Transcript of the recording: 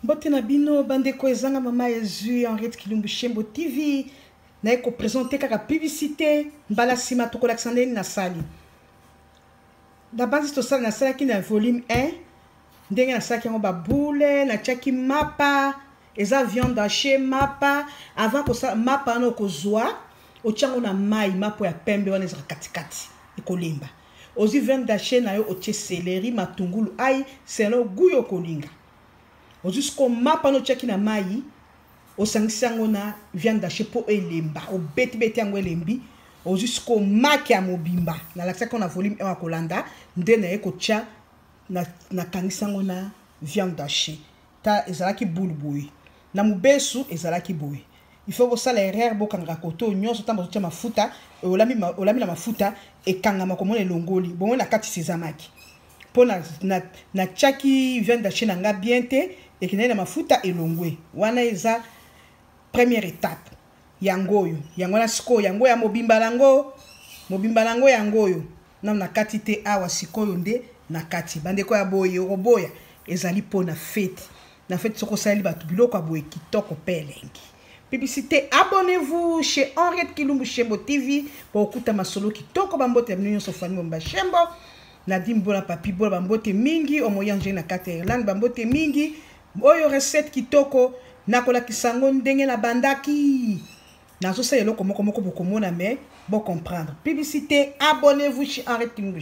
mbote na bino bandeko ezanga mama yezu henriette kilumbu shembo tv naye kopresente kaka publicité mbala nsima tokolakisa ndeni nasali na banzi tosala nasalaki na volume 1 ndenge nasalaki yango baboule natiaki mapa eza viande hache mapa avant kosala mapa wana okozwa otyango na mai mapo ya pembe wana ezaka katikati ekolemba ozwi viande dache na yo otie seleri matungulu ai selon gout yo okolinga ozwi siko mapa no otiaki na mai osangisi yango na viande dache mpo elemba obetibeti yango elembi ozwi siko maki ya mobimba nalakisaki yango na volume 1 ya kolanda nde naye kotya nakangisi yango na viande dache ta ezalaki boule boye na mobesu ezalaki boye il faut kosala erreur bokangaka koto nyonso ntango bazotia mafuta olami, ma, olami na mafuta ekangama komona elongoli bongo na kati sezamaki mpo natyaki na, viande dache na ngai bien te ekendaki na mafuta elongwe wana eza première étape yango oyo yango wana sikoyo yango ya mobimba nango mobimba nango yango oyo nano na kati te awa sikoyo nde na kati bandeko ya boye okoboya ezali mpo na fete na fete soki osaleli bato biloko ya boye kitoko mpe elengi publicité abonnez-vous chez henriette kilumbu shembo tv mpo okuta masolo kitoko bambote ya bino nyonso fami bomba shembo nadine bona papi bona bambote mingi omoyangeli na kati ya irlande bambote mingi Oyo recette kitoko nakolakisa yango ndenge na bandaki nazosala eloko moko moko bokomona mais bo comprendre publicité abonnez-vous chez Henri Tinguish